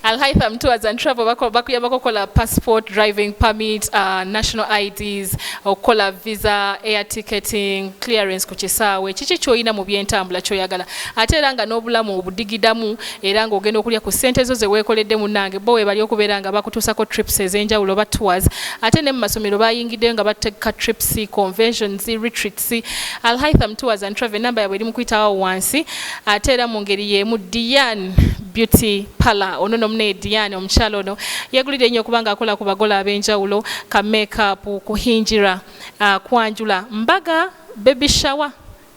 Alhaitham Tours and Travel bakuyambako okukola passport, driving permit, uh, national IDs, okukola visa, air ticketing, clearance ku kisaawe, kiki kyolina mu byentambula kyoyagala ate era nga n'obulamu obudigidamu era ng'ogenda okulya ku ssente zo zeweekoledde munange bo webali okubeera nga bakutuusako trips ez'enjawulo oba tours ate ne mu masomero bayingiddeyo nga bategeka trips conventions retreat wansi alhaitham tours and travel enamba yabwe eri mukuyitawo wansi ate era mu ngeri y'emu diane beauty pala ono nomunaye diane omukyalo ono yegulidde nnyo kubanga akola ku bagola ab'enjawulo ka makeup kuhingira uh, kwanjula mbaga baby shower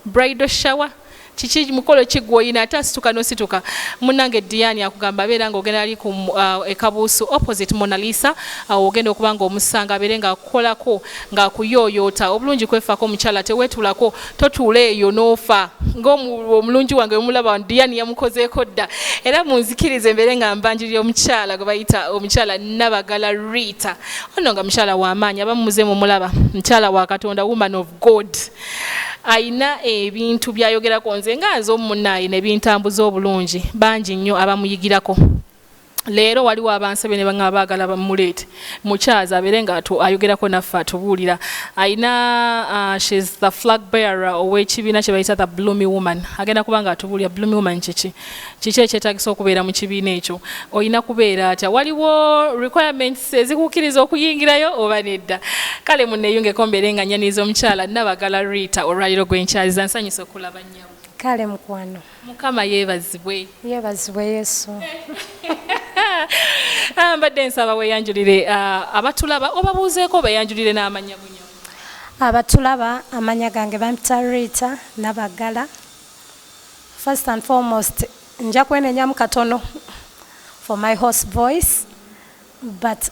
bridal shower kiki mukolo ki gwoyina ate asituka nosituka munange diani akugamba abeera nga ogenda ali ku uh, ekabuusu opposite monalisa awo uh, ogenda okuba nga omusanga abeere nga akukolako nga akuyoyoota obulungi kwefako omukyala tewetulako totuula eyo nofa ngaomulungi wange omulaba diani yamukozeeko dda era munzikirize mbeere nga mbanjirira omukyala gwe bayita omukyala nabagala rita ono nga mukyala wamaanyi abamumuze mumulaba mukyala wa katonda woman of god alina ebintu byayogerako nze nga nze omumunaaye nebintambuza obulungi bangi nnyo abamuyigirako leero waliwo abansebe ne banga baagala bamuleete mukyazi abeere nga ayogerako naffe atubuulira alina uh, shes the flag bearer ow'ekibiina kye bayita the bloomy woman agenda kuba nga atubuulira bloomy woman kiki kiki ekyetagisa okubeera mu kibiina ekyo olina kubeera atya waliwo requirements ezikukkiriza okuyingirayo oba nedda kale muneyungeko mbeere nga nyaniiza omukyala nabagala rita olwaliro gwenkyaziza nsanyusa okulaba nyawo kale mukwano mukama yebazibwe yebazibwe yesu ah, mbadde nsaba weyanjulire ah, abatulaba obabuuzeeko beyanjulire n'amanya bunyo abatulaba amanya gange bampita rita nabagala First and foremost nja kwenenyamu katono for my horse voice but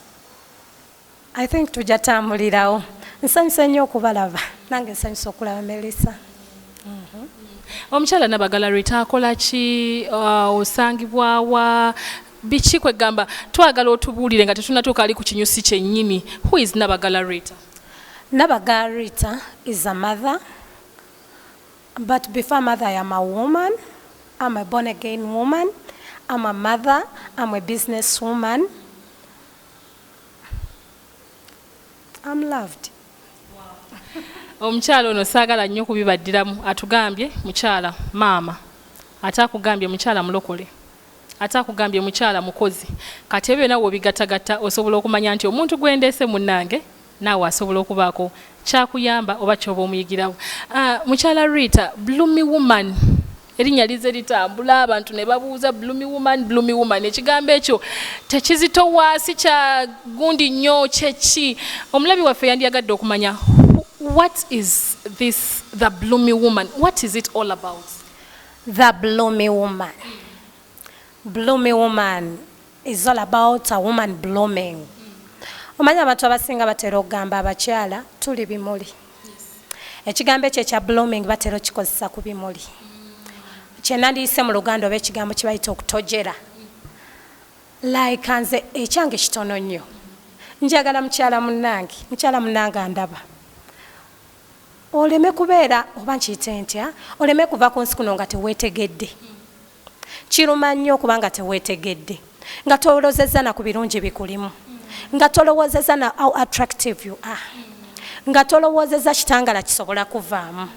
I think tujja tambulirawo. Nsanyuse nnyo okubalaba nange nsanyuse okulaba Melissa. Mhm. Omukyala Nabagala Rita akola ki? Uh, osangibwa wa? Biki kwegamba twagala otubuulire nga tetunatuuka ali ku kinyusi kyennyini. Who is Nabagala Rita? Nabagala Rita is a mother But before mother I am a woman, am a born again woman, am a mother, am a business woman, am loved. Omukyala ono saagala nnyo kubibaddiramu atugambye mukyala maama ate akugambye mukyala mulokole ate akugambye mukyala mukozi kati ebyo byona wobigatagatta osobola okumanya nti omuntu gwendeese munnange naawe asobola okubaako kyakuyamba oba kyoba omuyigirawo ah, mukyala rita blumi woman erinnya lize litambula abantu ne babuuza blumi woman blumi woman ekigambo ekyo tekizitowaasi kya gundi nnyo kyeki omulabi waffe yandiyagadde okumanya what is this the blumi woman what is it all about the blumi woman Bloomy woman is all about a woman blooming omanyi abantu abasinga batera okugamba abakyala tuli bimuli ekigambo ekyo ekya blooming batera okikozesa ku bimuli kyenandiyise mu luganda oba ekigambo kyebayita okutojera like nze ekyange kitono nnyo njagala mukyala munange mukyala munange andaba oleme kubeera oba nkiyite ntya oleme kuva ku nsi kuno nga tewetegedde mm. Kiruma nnyo kubanga tewetegedde, nga tolozezza na ku birungi bikulimu, nga tolowoozezza na how attractive you are, nga tolowoozezza kitangala kisobola kuvaamu.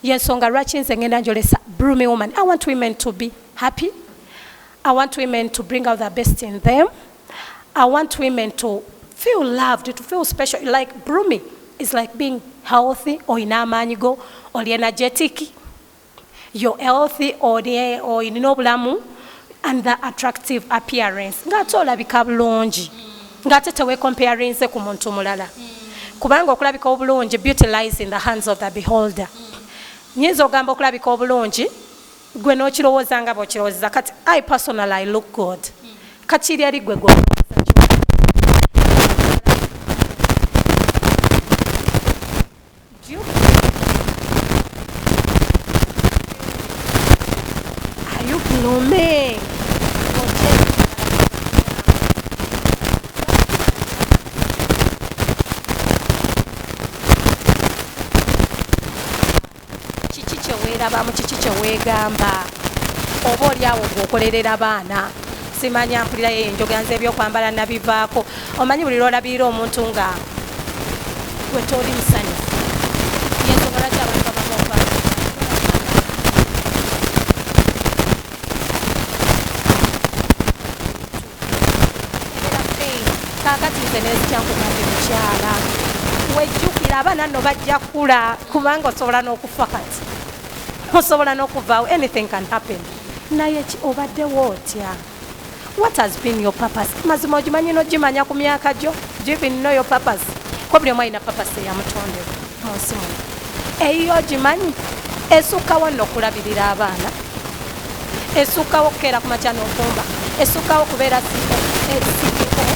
Yensonga lwaki nze ngenda njolesa broomy woman. I want women to be happy. I want women to bring out the best in them. I want women to feel loved, to feel special. Like broomy is like being healthy, olina amaanyi go, oli energetic. your health olina obulamu and the attractive appearance ngaate olabika bulungi ngaate tewecomparinze ku muntu mulala kubanga okulabika obulungi beauty lies in the hands of the beholder nyinza ogamba okulabika obulungi gwe nokirowooza nga bwokirowozeza kati i personal i look good kakiri eri gwe gwe kiki kyewerabamu kiki kyewegamba oba olyawo gweokolerera baana simanya mpulirayo enjogera nze ebyokwambala nabivaako omanyi buli lwolabirira omuntu nga wetoli musanyu yensonga lwaki abantu babamuva kakati nze nezikyankugambye mukyala wejjukira abaana no bajja kula kubanga osobola n'okufa kati osobola n'okuvaawo anything can happen naye ki obaddewo otya what has been your purpose mazima ogimanyi nogimanya ku myaka gyo do you even know your purpose ko buli omu alina purpose eyamutondera mu nsi muno eyiyo ogimanyi esukkawo nno okulabirira abaana esukkawo okukeera ku makya n'ofumba esukkawo okubeera siko esukkawo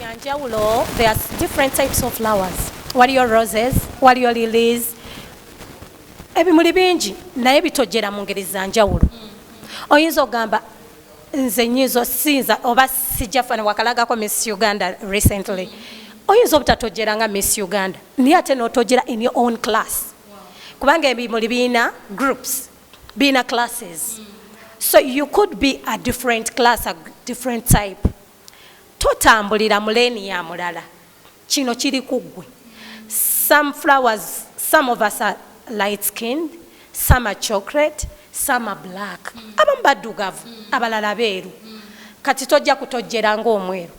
ya njawulo there are different types of flowers waliyo roses waliyo lilies ebimuli bingi naye bitojera mu ngeri za njawulo oyinza okugamba nze nyinza osinza oba sijja fana wakalagako miss uganda recently oyinza obutatojera nga miss uganda naye ate notojera in your own class kubanga ebimuli birina groups birina classes so you could be a different class a different type Totambulira mu lane ya mulala. Kino kiri ku ggwe. Some flowers, some of us are light skinned, some are chocolate, some are black. Abamu baddugavu, abalala beeru. Kati tojja kutojjera ng'omweru.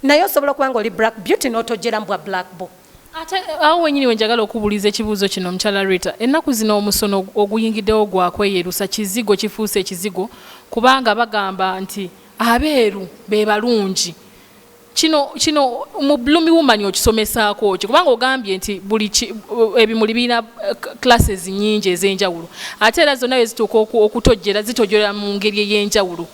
Naye osobola okuba ng'oli black beauty n'otojjera mu bwa black bo. Ate eh, awo wenyini we njagala okubuuliza ekibuuzo kino omukyala Rita. Ennaku zino omusono oguyingiddewo gwa kweyerusa kizigo kifuuse ekizigo kubanga bagamba nti abeeru bebalungi kino kino mu blumi woman okisomesaako ki kubanga ogambye nti buli eh, ebimuli birina eh, classes nyingi ez'enjawulo ate era zonna wezituuka okutojjera zitojjera mu ngeri ey'enjawulo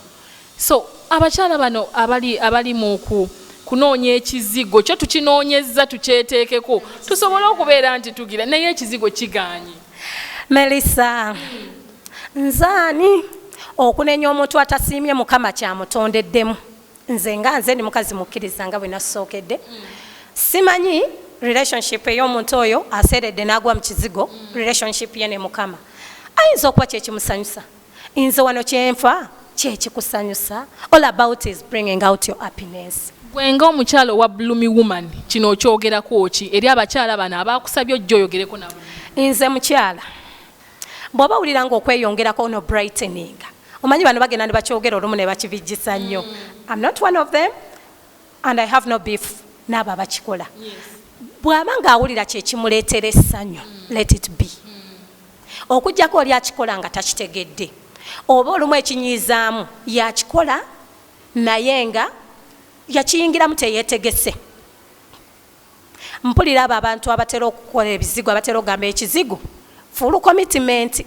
so abakyala bano abali abali muku kunoonya ekizigo kyo tukinoonyezza tukyeteekeko tusobole okubeera nti tugira naye ekizigo kiganye Melissa nzaani okunenya omuntu atasiimye mukama kyamutondeddemu nze nga nze ndi mukazi mukkiriza nga bwe nasookedde simanyi relationship ey'omuntu oyo aseeredde n'agwa mu kizigo relationship ye ne mukama ayinza okuba kyekimusanyusa Nze wano kyenfa kyekikusanyusa all about is bringing out your happiness. Gwe nga omukyala owa blumi woman kino okyogerako ki eri abakyala bano abakusabye ojja oyogereko nabo? Nze mukyala bw'oba wulira nga okweyongerako ono brightening omanyi bano bagenda ne bakyogera olumu ne bakibijjisa nnyo mm. am not one of them and I have no beef n'abo abakikola bw'aba ng'awulira kye kimuleetera essanyu mm. let it be mm. okujjako oli akikola nga takitegedde oba olumu ekinyiizaamu yakikola naye nga yakiyingiramu teyeetegese Mpulira abo abantu abatera okukola ebizigo abatera okugamba ekizigo fulu komitimenti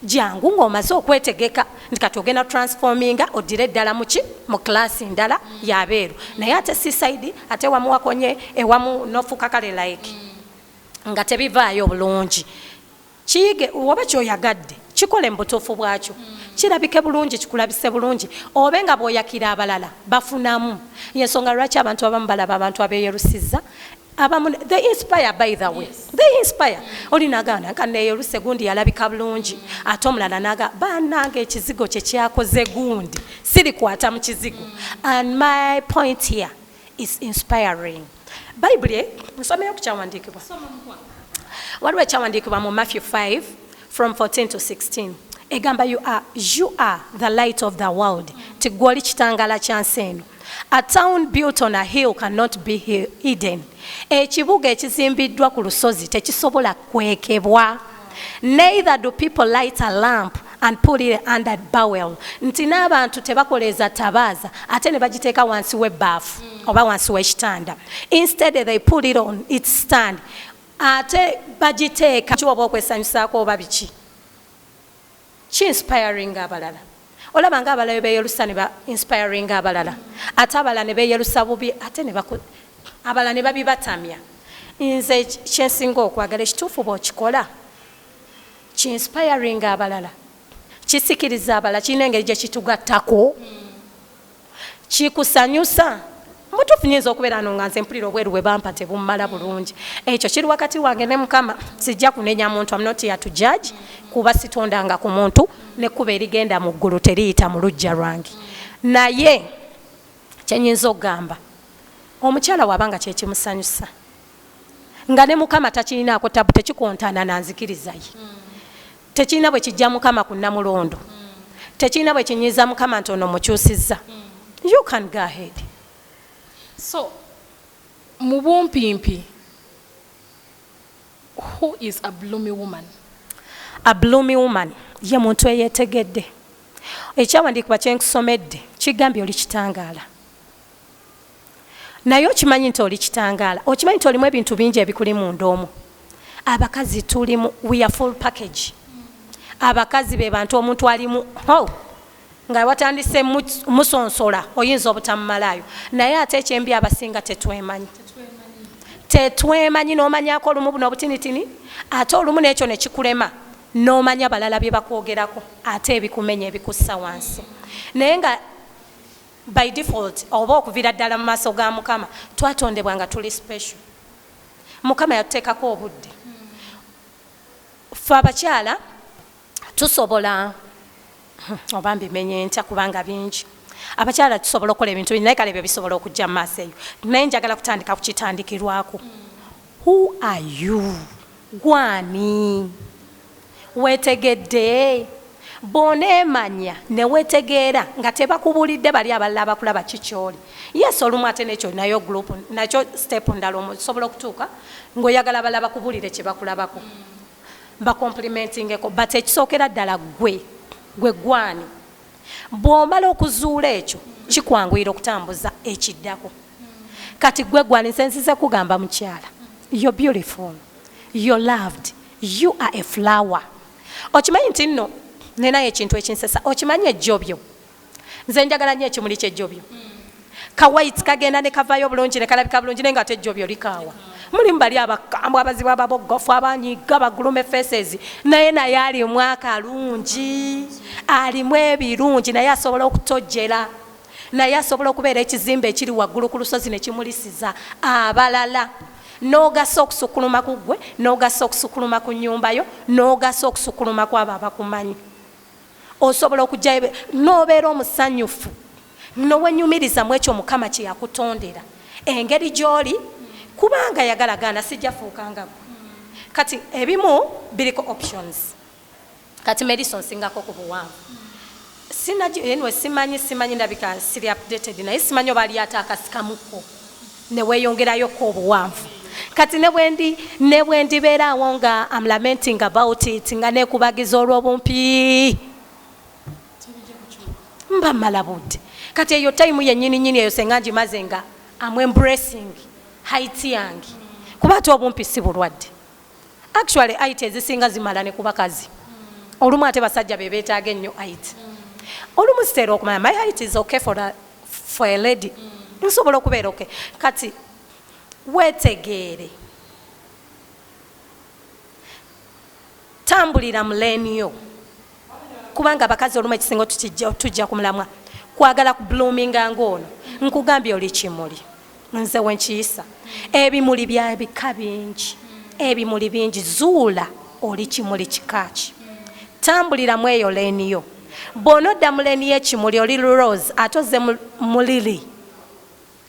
gyangu ng'omaze okwetegeka nti kati ogenda transforminga oddire eddala muki mu class ndala yabeeru naye ate sisaidi ate wamu wakonye ewamu nofuuka kale like nga tebivaayo bulungi Kiyige oba kyoyagadde kikole mubutuufu bwakyo kirabike bulungi kikulabise bulungi obe nga bwoyakira abalala bafunamu yensonga lwaki abantu abamu balaba abantu abeyerusizza abamu they inspire by the way yes. they inspire mm. oli nagana nka neyeruse gundi yalabika bulungi mm. ate omulala naga banange ekizigo kyekyakoze gundi sirikwata mu kizigo mm. and my point here is inspiring bayibuli nsomeyo ku kyawandiikibwa waliwo ekyawandiikibwa mu matthew 5 from 14 to 16 egamba you are, you are the light of the world nti gwoli kitangala kya nsi eno a town built on a hill cannot be hidden ekibuga ekizimbiddwa ku lusozi tekisobola kwekebwa Neither do people light a lamp and put it under bowel nti n'abantu tebakoleeza tabaaza ate ne bagiteeka wansi w'ebbaafu hmm. oba wansi w'ekitanda instead they put it on its stand ate bagiteeka kiwoba okwesanyusaako oba biki Ki inspiringa abalala. Olaba nga abalala bwebeyelusa ne ba inspiringa abalala ate abalala ne beyelusa bubi ate ne baku abalala ne babibatamya. Nze kye nsinga okwagala ekituufu bw'okikola ki inspiringa abalala, kisikiriza abalala, kirina engeri gye kitugattako. kikusanyusa? Mu tuufu nyinza okubeera no nga nze mpulira obweru bwe bampa tebummala bulungi. Ekyo kiri wakati wange ne Mukama. Sijja kunenya muntu, am not here to judge, kuba sitondanga ku muntu, n'ekkubo erigenda mu ggulu teriyita mu luggya lwange. Naye kye nyinza okugamba, omukyala waba nga kyekimusanyusa, nga ne Mukama takirinaako ttabu, tekikontana na nzikiriza ye. Tekirina bwe kijja Mukama ku Namulondo. Tekirina bwe kinyiiza Mukama nti ono mukyusizza. You can go ahead. So, mu bumpimpi, who is a bloomy woman? A bloomy woman ye muntu eyetegedde. Ekyawandiikibwa kye nkusomedde kigambye oli kitangaala. naye okimanyi nti oli kitangaala okimanyi nti olimu ebintu bingi ebikuli munda omu abakazi tulimu weare full package abakazi be bantu omuntu alimu oh, nga watandise musonsola oyinza obutamumalaayo naye ate ekyembi abasinga tetwemanyi tetwemanyi nomanyako olumu buno obutinitini ate olumu nekyo nekikulema nomanya balala byebakwogerako ate ebikumenya ebikussa wansi naye nga By default oba okuvira ddala mu maaso ga Mukama, twatondebwa nga tuli special. Mukama yatuteekako obudde. Ffe abakyala tusobola oba mbimenye ntya kubanga bingi abakyala tusobola okukola ebintu bingi naye kale ebyo bisobola okujja mu maaso eyo naye njagala kutandika ku kitandikirwako who are you gwani Wetegedde? Bwonemanya newetegeera nga tebakubulidde bali abalala abakulaba ki kyoli. Yes olumu ate nekyo nayo group nakyo step ndala osobola okutuuka nga oyagala abalala bakubulire kyebakulabako ba complimentingeko but ekisookera ddala gwe gwe gwani. Bwomala okuzuula ekyo kikwanguyira okutambuza ekiddako. Kati gwe gwani nze nzize kugamba mukyala you're beautiful, you're loved, U are a flower okimanyi nti nno ninayo ekintu ekinsesa okimanyi ejjobyo nze njagala nyo ekimuli kyejjobyo kawait kagenda nekavayo bulungi nekalabika bulungi naye nga ate ejjobyo likaawa mulimu bali abakambwe abazibu ababogofu abanyiga bagulume faces naye naye alimu akalungi alimu ebirungi naye asobola okutojjera Naye asobola okubeera ekizimbe ekiri waggulu ku lusozi ne kimulisiza abalala, n'ogasa okusukkuluma ku ggwe, n'ogasa okusukkuluma ku nnyumba yo, n'ogasa okusukkuluma ku abo abakumanyi. Osobola okujja ebe- n'obeera omusanyufu, ne wenyumiriza mu ekyo Mukama kye yakutondera, engeri gy'oli, kubanga yagala gaana, sijja fuuka nga ggwe. Kati ebimu biriko options. Kati Melissa onsingako ku buwanvu. Sinagi anyway simanyi simanyi ndabika siri updated naye simanyi oba alyata akasikamuko ne weyongerayo ko obuwanvu. Kati ne bwendi ne bwendi beera awo nga am lamenting about it nga nekubagiza olwobumpi. Mba mala budde. Kati eyo time yenyini nyini eyo senga ngimaze nga am embracing height yange. Kuba ate obumpi si bulwadde. actually it ezisinga zimala ne kubakazi olumu ate basajja bebetaaga ennyo it olumu zitera okumanya my height is okay for a, for a lady nsobola okubeera okay kati wetegeere tambulira muleniyo kubanga abakazi olumu ekisinga tujja kumulamwa kwagala ku bloominga ngaono nkugambye oli kimuli nze wenkiyisa ebimuli bya bika bingi ebimuli bingi zuula oli kimuli kikaaki tambulira mu eyo leeni yo bwona odda mu leeni yekimuli oli rose ate oze mu lili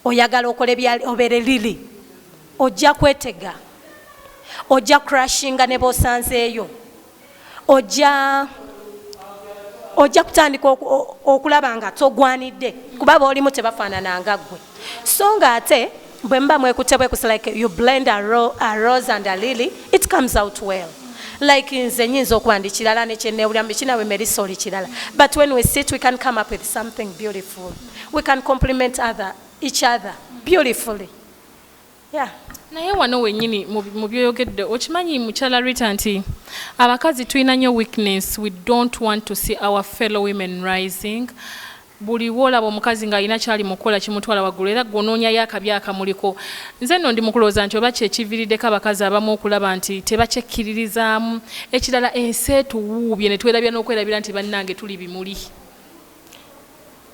oyagala okola obeere lili ojja kwetega ojja crushinga ne bosanzeeyo ojja ojja kutandika okulaba nga togwanidde kuba boolimu tebafaanana nga ggwe so nga ate bwe muba mwekutte bwekusi like you blend a, ro, a rose and a lily it comes out well like nze nyinza okuba ndi kirala nekyenewulira mubikinawe merisa oli kirala but when we sit we can come up with something beautiful we can compliment other each other beautifully Yeah. naye wano wenyini mu byoyogedde okimanyi mukyala rita nti abakazi tulina nyo weakness we don't want to see our fellow women rising buli wolaba omukazi ng'alina kyali mukukola kimutwala waggulu era gwonoonyayo akabi akamuliko nze nno ndi mukulowooza nti oba kyekiviiriddeko abakazi abamu okulaba nti tebakyekkiririzaamu ekirala ensi etuwuubye ne twerabira n'okwerabira nti bannange tuli bimuli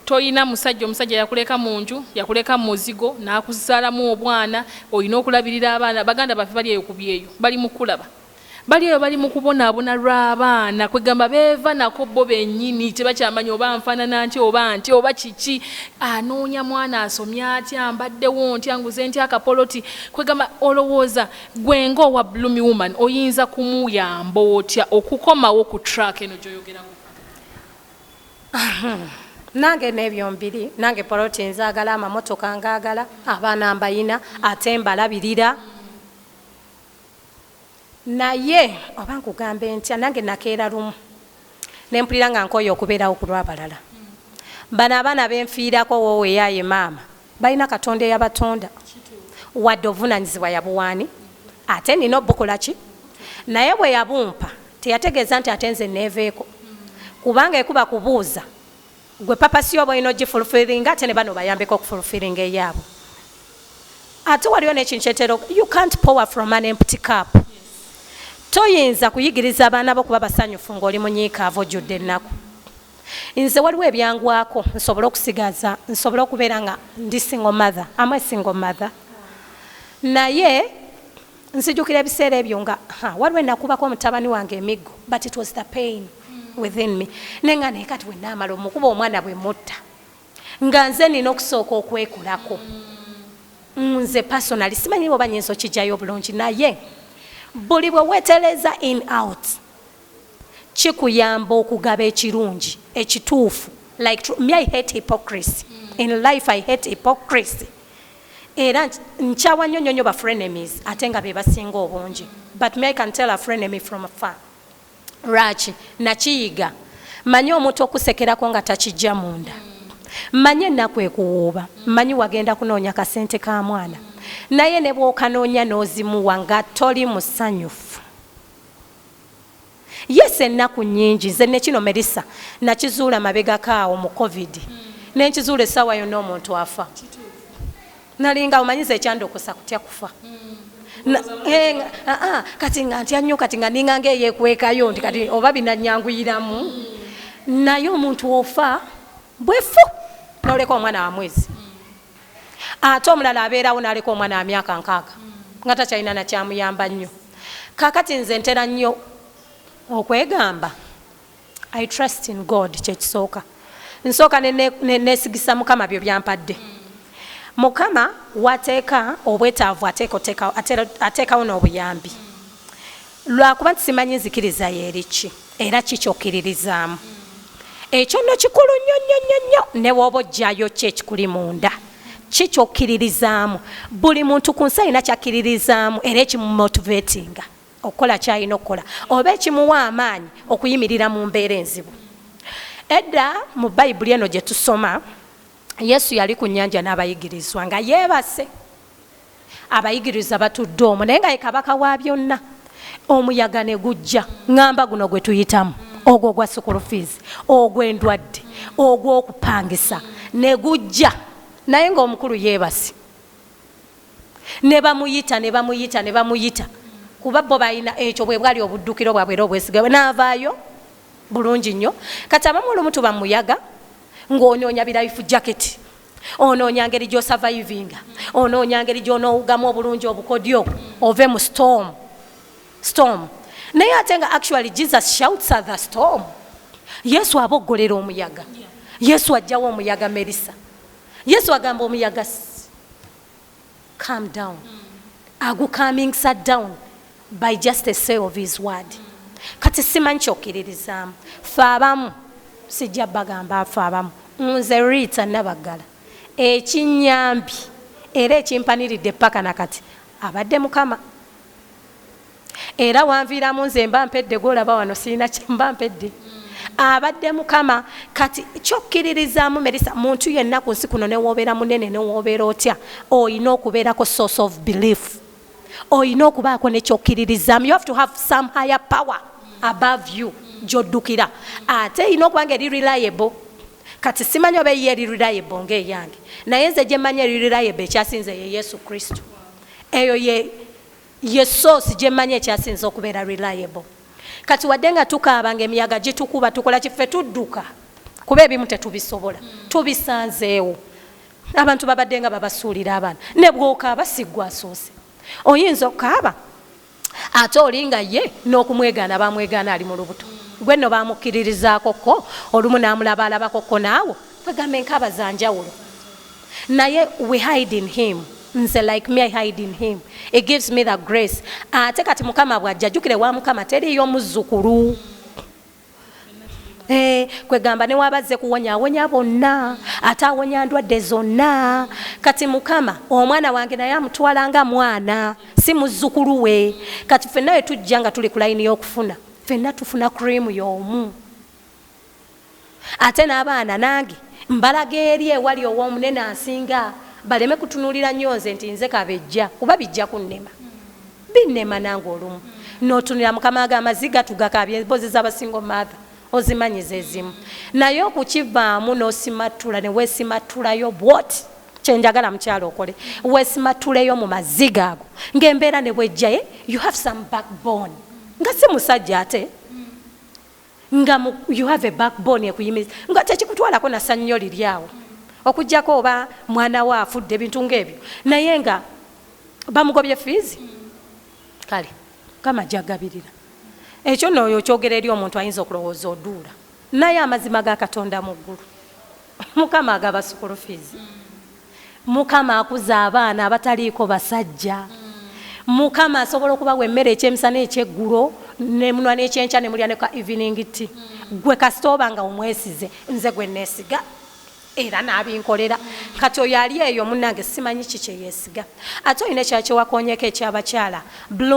Tolina musajja, omusajja yakuleka munju, yakuleka mumuzigo, nakuzalamu obwana, olina okulabirira abaana, baganda baffe bali eyo kubyeyo, bali mukukulaba, bali eyo bali mukubonabona lwabaana, kwegamba beva nako bo benyini, tebakyamanya oba nfanana ntya oba ntya oba kiki, anoonya mwana asomye atya, mbaddewo ntya, nguze ntya akapoloti, kwegamba olowooza gwe nga owa blumi woman oyinza kumuyamba otya okukomawo ku track eno gyoyogerako? nange nebyo mbiri nange poloti nzagala amamotoka ngagala abaana mbayina ate mbalabirira naye oba nkugamba entya nange nakeera lumu nempulira nga nkoye okubeerawo kulwabalala bano abaana benfiirako woowe eyaye maama Balina katonda eyabatonda wadde obuvunanyizibwa yabuwaani ate nina obukolaki naye bwe yabumpa teyategeeza nti ate nze neeveeko kubanga ekuba kubuuza gwe papasi oba olina ogifulfiringa ate ne bano bayambeko okufulfiringa eyaabwe ate waliwo nekintu kyetera you can't power from an empty cup toyinza kuyigiriza abaana bo kuba basanyufu ngaoli munyiikaavu ojjudde ennaku Nze waliwo ebyangwako nsobole okusigaza nsobole okubeera nga ndi single mother am a single mother naye nzijukira ebiseera ebyo nga waliwo enakubako omutabani wange emiggo but it was the pain within me naye nga naye kati wenaamala omukuba omwana bwe mutta nga nze nina okusooka okwekulako nze personally simanyi oba nyinza okijjayo obulungi naye buli bwe wetereza in out kikuyamba okugaba ekirungi, ekituufu, like true me I hate hypocrisy in life I hate hypocrisy era nkyawa nyo nyo nyo ba frenemies ate nga bebasinga obungi but me I can tell a frenemy from far lwaki nakiyiga manyi omuntu okusekerako nga takijja munda manyi enaku ekuwuuba manyi wagenda kunoonya kasente ka mwana naye nebwokanoonya nozimuwa nga toli musanyufu. Yes ennaku nnyingi nze nekino Melissa nakizuula mabegako awo mu covid nenkizuula essaawa yonna omuntu afa nalinga omanyi nze ekyandokosa kutya kufa eh, ah, ah, kati nga ntya nnyo kati nga ninga ngaeyekwekayo nti kati oba binanyanguyiramu naye omuntu ofa bwefu noleka omwana wa mwezi ate omulala abeerawo naleka omwana wamyaka nkaaga nga takyalina nakyamuyamba nnyo kakati nze ntera nnyo okwegamba i trust in god kyekisooka nsooka nesigisa mukama byo byampadde mukama wateeka obwetaavu ateekawo n'obuyambi Lwakuba nti simanyi nzikiriza yo eri ki era ki ky'okkiririzaamu. Ekyo nno kikulu nnyo nnyo nnyo nnyo ne bw'oba oggyayo ki ekikuli munda. Ki ky'okkiririzaamu. Buli muntu ku nsi alina ky'akkiririzaamu era ekimumotiveetinga okukola ky'alina okukola oba ekimuwa amaanyi okuyimirira mu mbeera enzibu. Edda mu Bayibuli eno gye tusoma, Yesu yali ku nnyanja n'abayigirizwa nga yeebase. abayigiriza batudde omwo naye nga ye kabaka wa byonna omuyaga ne gujja ŋŋamba guno gwe tuyitamu ogwo ogwa sukulu fiizi ogw'endwadde ogw'okupangisa ne gujja naye ng'omukulu yeebasi ne bamuyita ne bamuyita ne bamuyita kuba bo balina ekyo bwe bwali obuddukiro bwabwe era obwesiga bwe n'avaayo bulungi nnyo kati abamu olumu tuba muyaga ng'onoonya birayifu jaketi onoonya ngeri gy'osavayivinga onoonya ngeri gy'onoowugamu obulungi obukodyo ove mu storm storm naye ate nga actually jesus shouts at the storm yesu aboggolera omuyaga yesu ajjawo omuyaga merisa yesu agamba omuyaga calm down agukaminkisa down by just a say of his word kati simanyi kyokkiririzaamu fe abamu sijja bagamba fe abamu nze rita nabaggala ekinyambi era ekimpaniridde paka nakati abadde mukama era wanviiramu nze mba mpedde gwolaba wano sirina kyemba mpedde abadde mukama kati kyokkiririzaamu merisa muntu yenna ku nsi kuno newobeera munene newobeera otya olina okubeerako source of belief olina okubaako nekyokkiririzaamu you have to have some higher power above you gyoddukira ate erina okuba nga eri reliable kati simanyi oba eyiyo eri reliable ngaeyange naye nze gyemmanyi eri reliable ekyasinze ye yesu kristo Eyo ye ye source gyemmanyi ekyasinze okubeera reliable. Kati wadde nga tukaaba nga emiyaga gitukuba tukola ki? Ffe tudduka kuba ebimu tetubisobola. Tubisanzeewo. Abantu babaddenga babasuulira abaana. Ne bw'okaaba si ggwe asoose. Oyinza okukaaba. Ate oli nga ye n'okumwegaana bamwegaana ali mu lubuto. Gwe nno bamukkiririzaako kko olumu n'amulabaalabako kko naawe wegambe enkaaba za njawulo. Naye we hide in him. Nze like me I hide in him. He gives me the grace. Ate kati Mukama bw'ajja jjukira ewa Mukama teriiyo muzzukulu. Eh, kwegamba newaba azze kuwonya awonya bonna ate awonya ndwadde zonna kati mukama omwana wange naye amutwala nga mwana si muzzukulu we kati fenna we tujja nga tuli ku layini y'okufuna fenna tufuna cream y'omu ate n'abaana nange mbalaga eri ewali ow'omunene asinga baleme kutunuulira nnyo nze nti nze kabejja kuba bijja kunnema Binema nange olumu notunira mukama wange amazi gatugakabya embozi zabasingo maatha ozimanyi zezimu naye okukivaamu nosimattula newesimattulayo bwoti kyenjagala mukyalo okole wesimattuleyo mu maziga ago ngaembeera nebwejjaye you have some backbone nga si musajja ate nga mu you have a backbone ekuyimiriza nga tekikutwalako na sannyo liri awo okujjako oba mwana we afudde ebintu ng'ebyo naye nga bamugobye fiizi kale kama jagabirira ekyo nooyo okyogera eri omuntu ayinza okulowooza oduula naye amazima ga katonda mu ggulu mukama agaba sukulu fiizi mm. mukama akuza abaana abataliiko basajja mukama asobola okubawa emmere ekyemisana ekyeggulo nemunwa nekyenkya nemulya neka evening ti gwe kasita oba nga omwesize nze gwe nesiga era nabinkolera kati oyo ali eyo munange simanyi kikyeyesiga ate olina ekyakyewakonyeko ekyabakyala